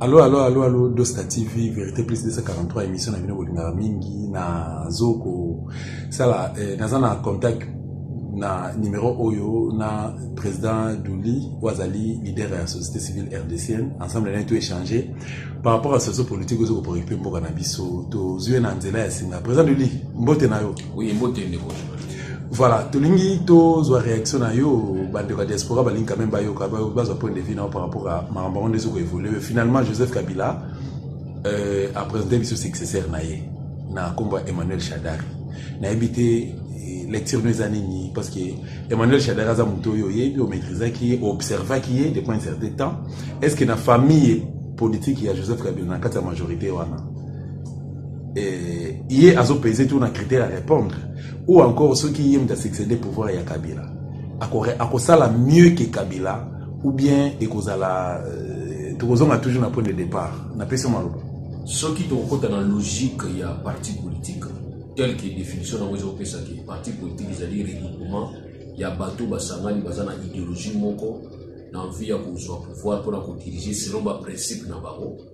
Allo, allo, allo, allo, Dosta TV, Vérité Plus 243, émission na bino kolingaka mingi, na zoko, sala, eh, naza na contact na numéro oyo na président Douli oyo azali leader ya société civile rdcienne ensemble naye to échange par rapport ya situation politique ozo kopréoccupe mboka na biso tozwi ye na nzela ya singa président Douli mbote na yo Oui, mbote ndeko voilà tolingi tozwa réaction na yo bandeko ya diaspora balingi quand même bayoka bazwa point de vue nao par rapport à makambo yango nde ezoko évolue finalement joseph kabila euh, apresente biso successeur na ye na nkombo ya emmanuel shadari nayebi te eh, lecture no eza nini parce que emmanuel shadari aza moto oyo oyebi omaîtrisaki ye oobservaki ye depuis un certain temps est ce que na famille politique ya joseph kabila na kati ya majorité wana eh, ye azo pese tour na critère ya répondre ou encore soki ye moto asuccédé pouvoir ya kabila akosala mieux que kabila ou bien ekozala euh, tokozonga toujours na point de départ napesi maloba soki tokokota na logique ya parti politique tel que définition nango ezopesaki parti politique ezali regroupement ya bato basangani baza na idéologie moko na envie ya kozwa pouvoir mpona kodirige selon baprincipe na bango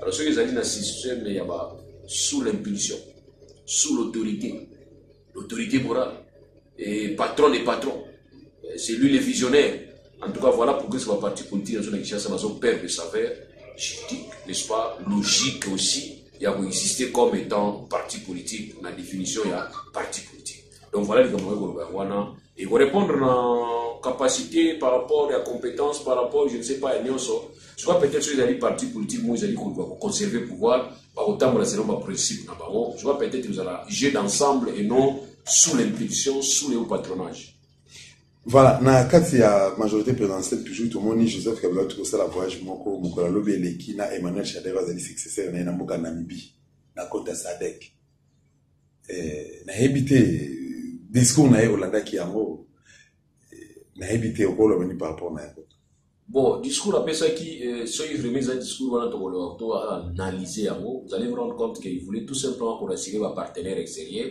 alors soki ezali na système ya ba sous l'impulsion sous l'autorité l'autorité morale et patron des patrons euh, c'est lui le visionnaire en tout cas voilà pourquoi c'est ba parti politique nazo na Kinshasa nazo perdre de saveur juridique n'est-ce pas logique aussi ya koexiste comme étant parti politique na définition ya parti politique donc voilà likambo okoki koloba yango wana ekorépondre na capacité par rapport ya compétence par rapport je ne sais pas ya nyonso soit peut-être soki ezali parti politique moko ezali koluka koconserve pouvoir bakotambola selon baprincipe na bango soit peut-être ezala jeu d'ensemble et non sous l'impulsion sous le patronage voilà na kati ya majorité présidentielle toujours tomoni joseph kabila auti kosala voyage moko mokolo alobi eleki na emmanuel shadev azali successeur na ye na mboka namibie na compte ya sadek Eh, nayebi te discours na ye olandaki yango eh, nayebi te okoloba ni par rapport na yango bon discours apesaki eh, soki vraiment eza discours wana tokoloba to analyse yango vous allez vous rendre compte qu'il voulait tout simplement korasire bapartenaire extérieur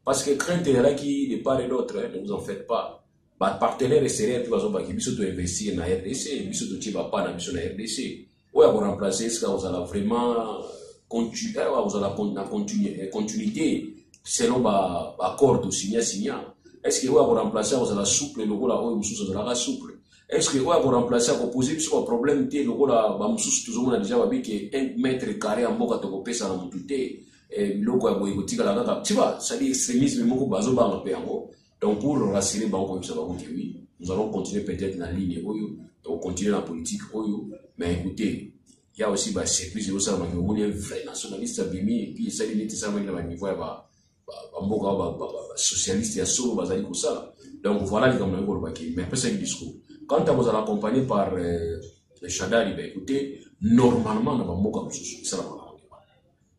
parce que crainte ezalaki de part et d'autre ne vous en faites pas bapartenaire extérieur mpe bazobaki biso toinvestir na rdc biso totie bapa na biso na rdc oyo ako remplacer eske akozala vraiment continu eh, akozala na continu, eh, continuité selon ba accord to signa signa eske oyo ako remplacer akozala souple lokola oyo mosusu azalaka souple eske oyo ako remplacer ako poser biso ba problème te lokola ba mosusu tozomona deja babike un mètre carré ya mboka tokopesa na motu te eh, biloko ya boye kotikala kaka tiba sali extrémisme moko bazobanga mpe yango Donc pour rassurer bango koyebisa bango que oui, nous allons continuer peut-être na ligne oyo, donc continuer na politique oyo, mais écoutez, il y a aussi ba surprise yo ça maki omoni un vrai nationaliste abimi et puis ça limite ça maki na ba niveau ya ba ba mboka ba ba socialiste ya solo bazali ko sala. Donc voilà les gamins ko lobaki, mais après ça discours. Quand on vous accompagné par euh, le Shadari, ben écoutez, normalement na ba mboka mosusu, ça la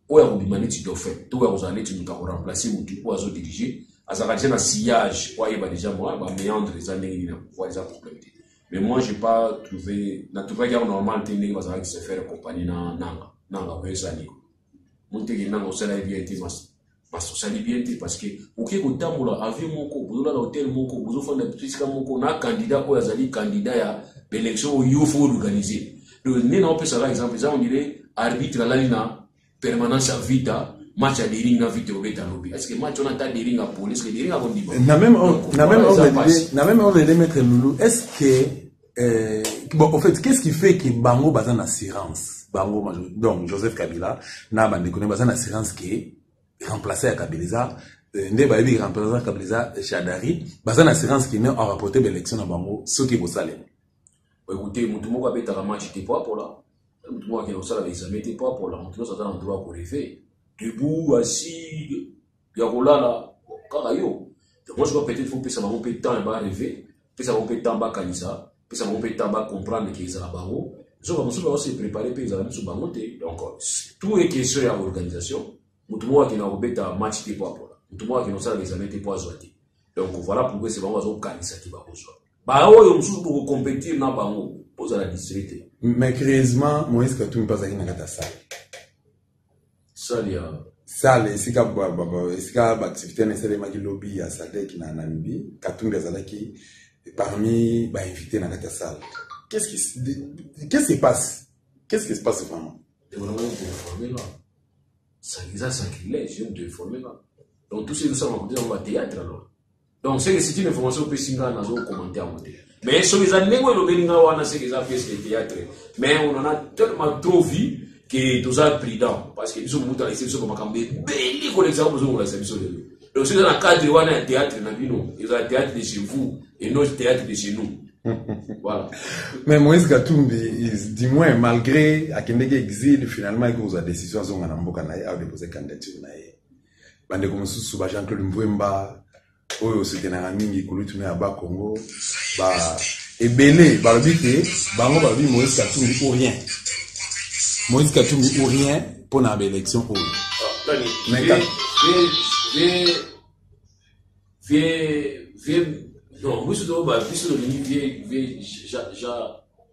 oyo akobima neti dauphin to oyo akozala neti moto akoremplace motu oyo azodirige azalaka deja na sillage po ayeba deja mwa baméandre eza ndenge nini na pouvoir eza problème te mais moi j'ai pas trouvé na trouvaki yango normal te ndenge bazalaki se faire compagnie na nanga nanga oyo ezali moteki nanga osalaki bien te parce osali bien te parce que oke kotambola avion moko bozolala hotel moko bozofanda esika moko na candidat oyo azali candidat ya baélection oyo yo fo organise donc nde na opesa ka exemple eza ondire arbitre alali na permanence ya vita match ya dering na vita obeta lobi est ce que match wana ata dering apoli est ce que dering akondima na même na même ordre d'idée na même ordre d'idée maître loulou est ce que euh, bon en fait qu'est ce qui fait que bango baza na assurance bango donc joseph kabila na bandeko ne baza na assurance que remplacer ya kabila eza euh, nde bayebi remplacer kabila eza chadari baza na assurance que ne aurapporte baélection na bango soki ekosalema Écoutez, mutu moko abetaka match te po apola. Mutu moko akende kosala baexame te po apola. Mutu nyonso aza na droit ya koreve. Debout, assis, ya kolala, kaka yo. Donc moi je crois peut-être faut pesa bango mpe temps ya ba reve, pesa bango mpe temps bakanisa, pesa bango mpe temps ba comprendre ke ezala bango. Zoka mosusu bao se préparer mpe ezala misu bango te. Donc tout est question ya organisation. Mutu moko akende kobeta match te po apola. Mutu moko akende kosala examen te po azwa te. Donc voilà pourquoi c'est bango bazokanisa te bakozwa. baoyo mosusu bokocompetire na bango bozala distre te mais creusement moïse katumbi mpe azalaki na kati ya sale sale ya sale esika esika baactivité wana esalemaki lobi ya sadek na namibie katumbi azalaki parmi bainvité na kati ya sale qu'est-ce qui qu'est-ce qui se passe qu'est-ce qui se passe vraiment eza sacrilège yo moto eforme nga donc tout ce ezosalama kote yango bathéâtre alors donc seke c'est une information opesi ngai nazo commente yango te mais soki eza ndenge elobeli ngai wana seke eza pièce de théâtre mais on en a tellement trop vu que toza prudent parce que biso mobutu alakisi biso bamakambo ebeli kolekisa yango bozongolakisa biso lelo donc soki eza na cadre wana ya théâtre na bino eza théâtre de chez vous et non théâtre de chez nous voilà. Mais Moïse Katumbi, il, du moins, malgré Akendeke exil, finalement, il cause la décision à Zonga Namboka, à déposer candidature. bandeko mosusu ba jean claude mvwemba oyo osekenaka mingi kulutu na ya bakongo ba ebele balobi te bango balobi moïse katumbi ou rien moïse katumbi ou rien mpo na baélection oyo vie non biso toyeba biso tolingi vie vie ja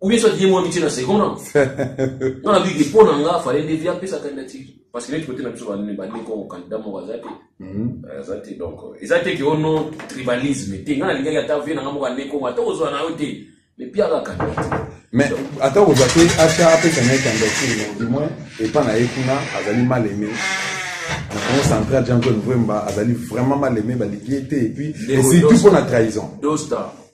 ou bien soit ye mwa mitie na second non nga na biki mpo na nga fale nde via apesa candidature parce que neti kote na biso bandeko candidat moko aza te mhm. euh, aza te donc euh, eza te ke o non tribalisme te nga nalingaki ata vie na nga moko ande kongo ata kozwa na yo te mais pia kaka candidature mais ata kozwa te ata apesa na ye candidature donc du moins epa na ye kuna azali mal aimé na congo central jean claude vremba azali vraiment mal aimé balingi ye te et puis et surtout mpo na trahison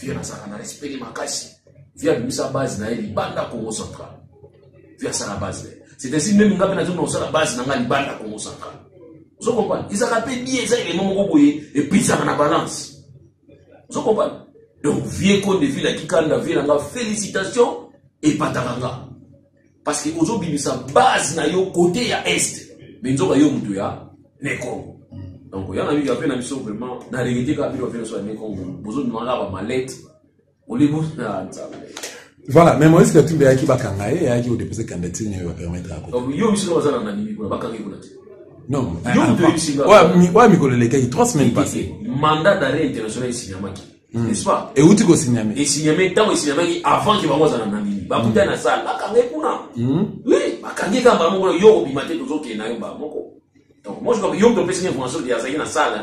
vieux azalaka na respect makasi vieux abimisa base na ye libanda congo central vieux asala base na ye c'est ainsi meme nga mpe nazongi na kosala base na nga libanda congo central ozo comprendre ezalaka mpe bien eza elema moko boye epesaka na balance ozo comprendre donc vieux konde ville akikanda vieux na nga félicitation epataka nga parce que ozo bimisa base na yo côté ya est mais nzoka yo mutu ya ne Congo donc yana mingi ape na biso vraiment na regete kaka bino ape na biso ya ne Congo bozo bimaka ba malette olibo na nzambe voilà mais moïse katumbi ayaki bakanga ye ayaki kodepose candidature nini bapermettre ya kota yo biso baza na nani mikolo bakanga ye kuna te non oyo mikolo elekaki trois semaines passé mandat d'arrêt international esinyamaki Hmm. n'est-ce pas euti kosinyame esinyame ntango esinyamaki avant ke bango azala na ndimi bakutani na sale bakanga ye kuna hmm. oui bakangi kaka mbala moko yo obima te tozokende na yo mbala moko donc moi je crois que yo moto opesaki information ke azalaki na sale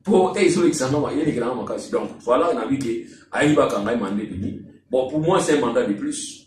mpo te ezolekisa noma yelekelanga makasi donc voilà nabi ke ayaki bakanga ye mande demi bon pour moi c'est un mandat de plus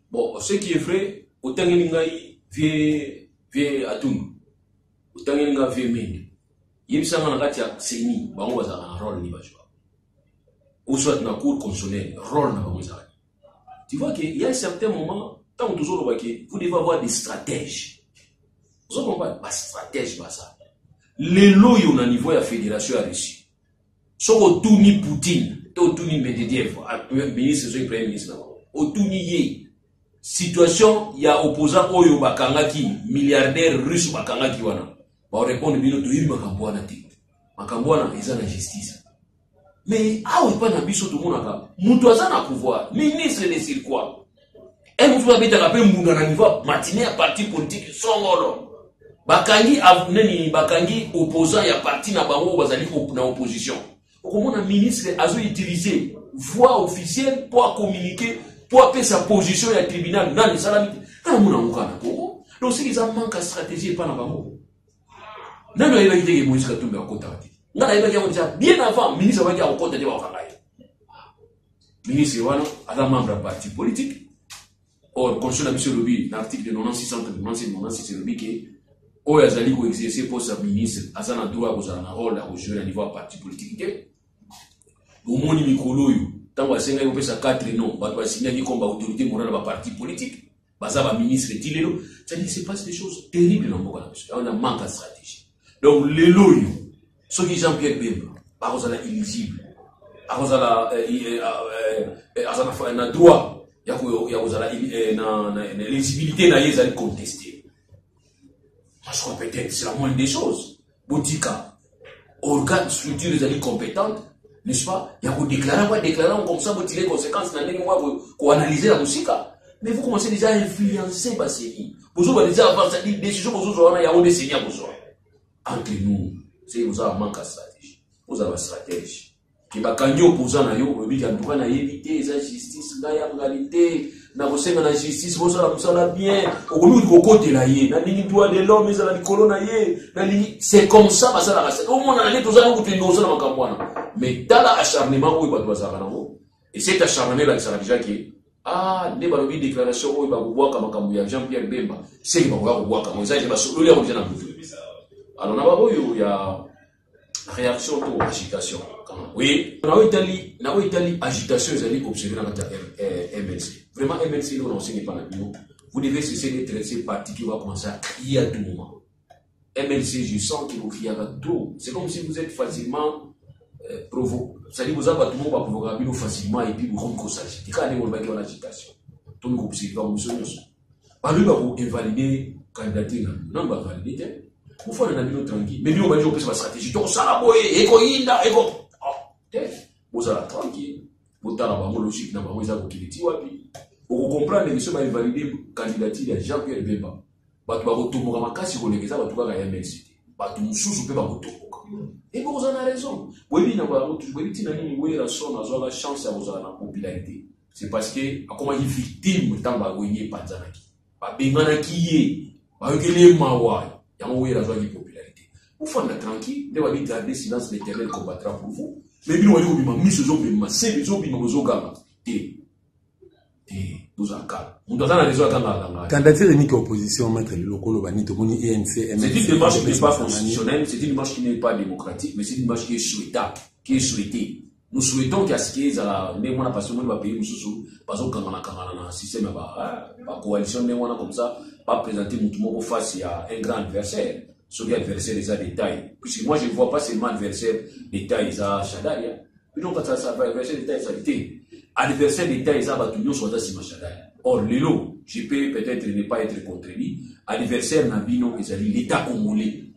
Bon, ce qui est vrai, otangeli ngai vie vie atundu. Otangeli ngai vie mende. Yebisa nga na kati ya CENI, bango bazalaka na rôle ni bajwa. Ou soit na cour constitutionnelle, rôle na bango ezalaka. Tu vois qu'il y a un certain moment, tant que toujours le vous devez avoir des stratèges. Vous comprenez Pas stratège, pas ça. Les loyaux au niveau de la fédération à Russie. soki otuni poutine to otuni medediev ministre soki premier ministre na bango otuni ye situation ya opposant oyo bakangaki milliardaire russe bakangaki wana baorepondre bino toyebi makambo wana te makambo wana eza na justice mais awa epai na biso tomonaka moto aza na pouvoir ministre de sur quoi e motu babetaka mpe mbunda na niveau matine ya parti politike songolo bakangi nini bakangi opposant ya parti na bango oyo bazali na opposition okomona ministre azoutilize voix officielle mpo akomunike mpo apesa position ya tribunal nani esalami te kana mona yango kaka na kongo donc soki eza manque ya stratégie epai na bango nani ayebaki te ke moïse katumbi akotaka te ngai nayebaki yango deja bien avant ministre abaki akokota te bakokanga ye ministre wana aza membre ya parti politique or constitution na biso elobi na article 9696 elobi ke oyo azali koexerce poste ya ministre aza na droit ya kozala na role ya kojue na niveau ya parti politique te bomoni mikolo oyo ntango asengaki kopesa 4 non bato basinyaki komba autorité morale ya baparti politique baza ba ministre ti lelo cetadire se passe des choses terrible na mboka na biso yango na manque ya stratégie donc lelo oyo soki jean pierre bemba akozala éligible akozala eh, eh, ah, eh, aza na droit ya kozala na éligibilité na ye ezali conteste parce que peut-être c'est la moindre des choses botika organe structure ezali compétente n'est-ce pas ya kodeklare yango adeklare yango comme ça botire conséquence na ndenge moko ya koanalyse na mosika mais vous commencez déjà à influencer baseni bozoba déjà avance adi décision bozozwa wana yango nde seni ya kozwa entre nous seki bozala manque ya stratégie bozala bastratège ke bakangi opoza na yo olobi ke antuka nayebi te eza justice ngai yangali te nakosenga na justice bosala mosala bien okomi kokotela ye nalingi droit de l'homme ezala likolo na ye nalingi c'est comme ça basalaka se omonana nde toza yango tende osala makambo wana mais tala acharnement oyo bato bazalaka nango et cet acharnement elakisaka deja ke ah nde balobi déclaration oyo bakobwaka makambo ya jean pierre bemba seke bakoya kobwaka yango eza te basololi yango deja na moto alors na baoyo ya réaction to agitation oui na oyo etali na oyo etali agitation ezali observe na kati ya eh, mlc vraiment mlc ndo na osengi epa na bino vous devez cesser d'être ce parti qui va commencer à crier à tout moment mlc je sens que bocriaka trop c'est comme si vous êtes facilement euh, provo c'est-à-dire boza bato moko baprovokaka bino facilement et puis bokomi kosagite kaka ndenge olobaki wana agitation tomi kobserve bango biso nyonso Balobi ba ko invalider candidature na bino. Nanu ba valider te. Bofana na bino tranquille. Mais bino bandi kopesa ba stratégie. Tokosala boye, ekoyinda, eko... Oh, te. Bozala tranquille. Botala bango logique na bango eza kokende ti wapi. Okokomprendre biso ba invalider candidature ya Jean-Pierre Bemba. Bato bakotomboka makasi koleka eza bato kaka ya MLC te. Bato mosusu mpe bakotomboka. Et vous en avez raison. Boyebi na bango, boyebi ntina nini Werrason azwaka chance ya kozala na popularité. c'est parce que akomaki victime ntango bawenge epanzanaki babenganaki ye bayokeli ye mawa yango wera azwaki popularité ofanda tranquille nde babi garde silence l'éternel combattra pour vous mais bino baye kobima miso ezobima sebe ezobima bozoganga te te bozala kala moto aza na rezo akanga akanga candidature eniki ya opposition maître liloko oloba nini tomoni enc c'est une démarche qui n'est pas constitutionnelle c'est une démarche qui n'est pas démocratique mais c'est une démarche qui est souhaitable qui est souhaitée nous souhaitons que asike ezala ndenge wana parce que omoni bapays mosusu bazokangana kangana na système ya bacoalition hein, ndenge wana comme ça baprésente motu moko face ya un grand adversaire soki adversaire eza détail puisque moi je ne vois pas seulement adversaire détail eza shadari hein. bino kati adversaire détail ezali te adversaire d'état eza bato nyonso baza nsima shadari or lelo je peux peut-être ne pas être contredit adversaire na bino ezali l'état congolais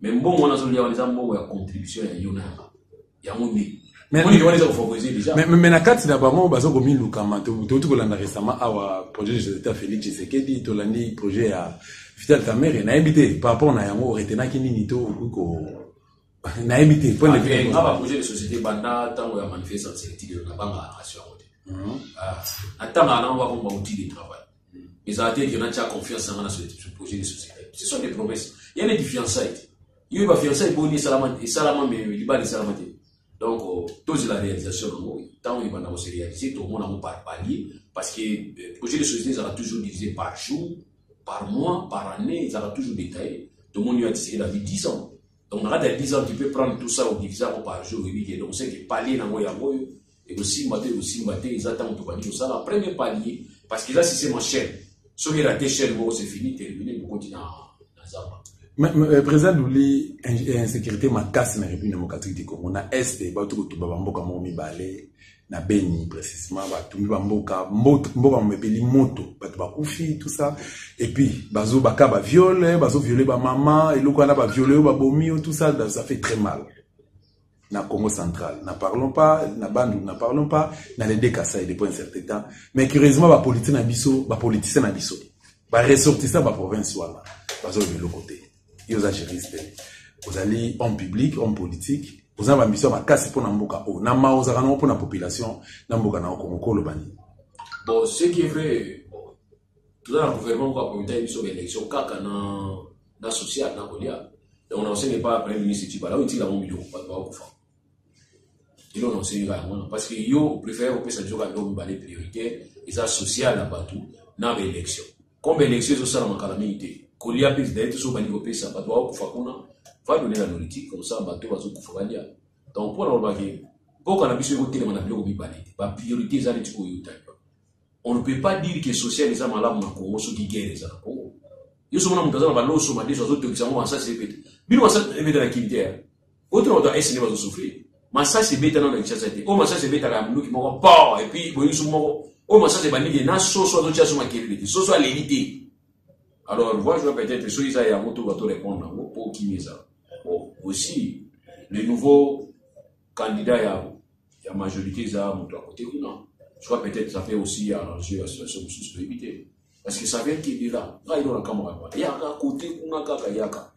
mais mbongo wana azolia wana eza mbongo ya contribution ya yo na yanga yango nde mais na kati na bango baza komilukama touti kolanda récemment awa projet de société félix tshisekedi tolandi projet ya vital camere nayebi te par rapport na yango oretenaki nini to okoki ko nayebi te point de ah, vue nga baprojet de société banda ntango ya manifestance etiki nabanga na nation yango te natangaka nango bakomi bautile travail ezala te ete natya confiance na nga na projet de société ce sont des promesses ya neti fiançaille te yo ba fiançaille boni esalama esalama me libala esalama te donc euh, tozela réalisation yango ntango ebanda kose réalise tomona yango par palier parce que euh, projet de société ezalaka toujours divisé par jour par mois par année ezalaka toujours détaillé tomoni yo atiseke na vie 10 ans Donc, on a 10 ans, tu peux prendre tout ça au divisable par jour, et donc c'est que palais dans Moyamoyo, ekosimba to ekosimba te eza ntango tobandi kosala premier palier parce que eza système en chaîne soki erate chaîne moko c'est fini termine bokoti na zamba euh, président luli euh, insécurité makasi na république démocratique du congo na est bato kotumba bamboka moko mibale na beni précisement batumbi bamboka mboka momepeli moto bato bakufi tout ça epuis bazobaka baviole bazoviole bamama eloko wana baviole oyo babomi yo tout ça ça fait très mal na Congo central. Na parlons pas na Bandou, na parlons pas na les deux Kasaï depuis un certain temps. Mais curieusement ba politiciens na biso, ba politiciens na biso, ba ressortissants ba province wana, bazo le l'autre côté. Yo za juriste. Vous allez en public, en politique, vous avez ambition makasi pona mboka o. Na ma ozaka na pona population na mboka na Congo ko lobani. Bon, ce qui est vrai toza na gouvernement moko akomitaki biso ba élection kaka na na social na kolia donc na osenga epai ya premier ministre tibala oyo etikala yango biloko bato bakokufa elo na osengi kaka yango wana parce que yo opréfère kopesa biso kaka biloko mibale priorité eza social na bato na ba élection comme élection ezosalama kala mingi te kolia mpe ezali te so obandi kopesa bato bakokufa kuna va donner la nourriture comme ça bato bazokufa balia donc mpo na kolobaki mboka na biso ekotelema na biloko mibale te bapriorité eza neti koyotani On ne peut pas dire que social eza malamu na Congo soki guerre eza na Congo. Yo soki mona moto aza na baloso madeso azotokisa yango masasi ebeta. Bino masasi ebeta na Kin te. Eh? Oyo tuna bato ya Est nde bazosouffrir. Masasi ebeta nano na Kinshasa te. Oyo masasi ebetaka ya munduki moko po et puis boyebi suku moko. Oyo masasi ebandi te na soso azotya so makelele te. Soso aleli te. Alors vois je peut-être soki eza yango to bato répondre yango po kimi eza. Bon, aussi le nouveau candidat ya, ya majorité eza moto ya kote kuna soit peut-être ça fait aussi arranger la situation mosusu toyebi te parce que ça vient kende la ngai ndo nakamwaka wana yaka kote kuna kaka yaka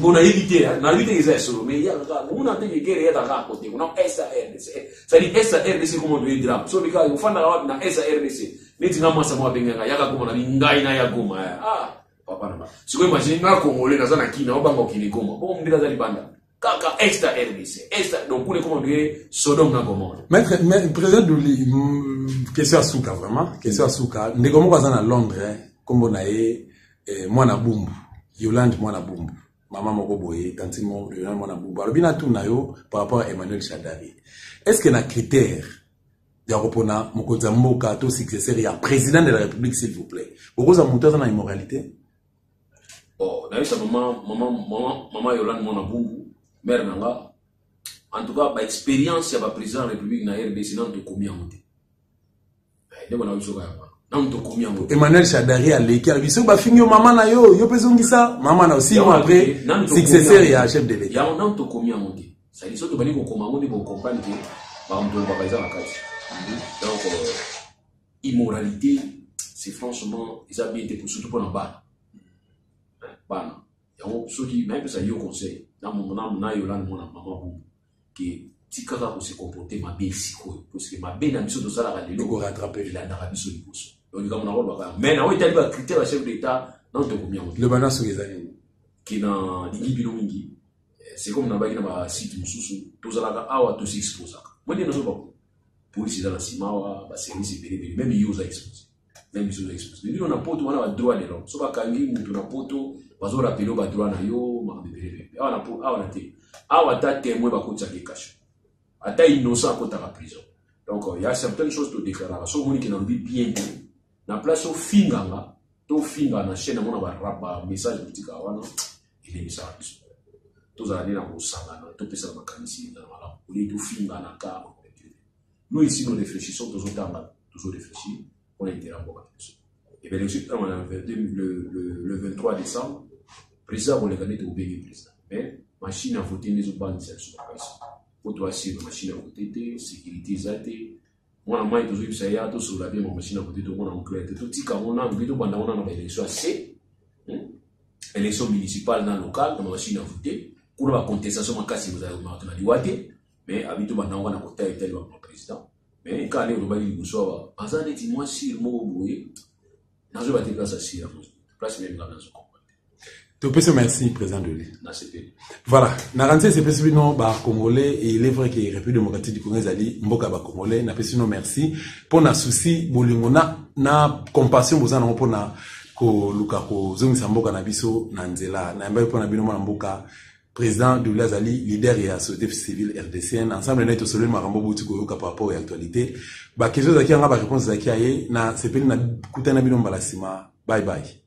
bon nayebi te nayebi te eza ya solo mais yaka kaka komona te kekele yaka kaka kote kuna sardc cetadi sardc koma toye drame so bika ofandaka wapi na sardc neti nga mwasa mwa abengaka yaka komona ni ngai na ya goma ah papa na ba sikoyo imagine nga congolais naza na kina obanga okende goma bongo mbila aza libanda kaka est ya rdc est donc kuna ekoma ndire sodome na gomore maître président duli mm, question ya suka vraiment question ya suka ndeko moko aza na londres nkombo na ye eh, mwana bumbu yolande mwana bumbu mama moko boye tantine moko yolande mwana bumbu alobi natuna yo par rapport ya emmanuel chadari est ce que na critère ya kopona mokonzi ya mboka to successeur ya président de la république s'il vous plaît bokozwa moto aza na immoralité bon nayebisa mama mama mama mama yolande mwana bungu mare na nga en tout cas baexpérience ya baprésident ya république na rdc nanu tokomi yango te eh, ndeko na biso kaya wana nanu tokomi yango te emmanuel chadari aleki alobi soki bafingi yo mama na yo yo mpe ezongisa mama na yo six mois après successeur ya chef de l'état yango nanu tokomi yango te sadi soki tobandi kokoma yango nde bocomprendre ke bamoto lobaka eza na kati donc euh, immoralité c'est franchement eza bien te surtout mpona bana bana yango soki nayebisa yo conseil nayolani mwana mama bongo ke tikaka kose comporte mabe sikoyo parceke mabe na biso tosalaka lelo elandaka biso liboso donc likambo nango lobaka mais nango etali bacritère ya chef d'état nano tokomi yango loba na soki eza nini ke na lingi bino mingi eh, c'est comme nabaki na basite mosusu tozalaka awa tosiexposaka mwende nazo bakuna police eza na sima awa baservice ebele ebele meme yo oza expose meme biso oza expose bino na poto wana badroit de l'homme so bakangi moto na poto bazorapele badroit na yo makambo ebele ebele awa na po awa na te awa ata temoin bakotisaka ye kasho ata innocent akotaka prison donc euh, ya certaines choses todeklaraka so omoni ke nalobi bien te na place ofinganga to ofinga na chaine yango na barap bamessage kotika wana elembisaka biso tozala nde na kosangana topesana makanisi ezala malamu olie tofingana ka nous ici nous réfléchissons tozotanga tozo réfléchir mpo na intérêt ya mboka na biso ebele biso ntango na le 23 décembre président akoleka nde tokobengi président mais machine ya vote nde ezobangisa biso makasi mpo toasire machine ya vote te sécurité eza te mwana mai tozoyebisa ye ya tosolola bien mamachine ya kote tomona mokolo ya te totika yango nanu mpe tobanda yango nanu baélection ya se hmm? élection municipale na locale na mamachine ya vote kuna bacontestation makasi mozalaki na liwa te mais abi tobanda yango na kota etali bama président mais kaka nde olobaki liboso awa aza neti mwasi moko boye nazo ba te place ya sira place meme nga nazo comprendre topesi merci président de l'île nasepeli voilà na ranzi esepesi bino bacongolais et il est vrai que république démocratique du congo ezali mboka ya bacongolais napesi bino merci mpo na souci bolingo na, na compassion boza nango mpo na koluka kozongisa mboka na biso na nzela nayambaki mpo na bino mwana mboka President Double azali leader ya société civile RDCN. Ensemble na ye tosololi makambo bouti koyoka par rapport ya actualité. Ba questions ezalaki yanga ba réponses ezalaki ya ye na sepeli na kutana bino mbala sima. Bye bye.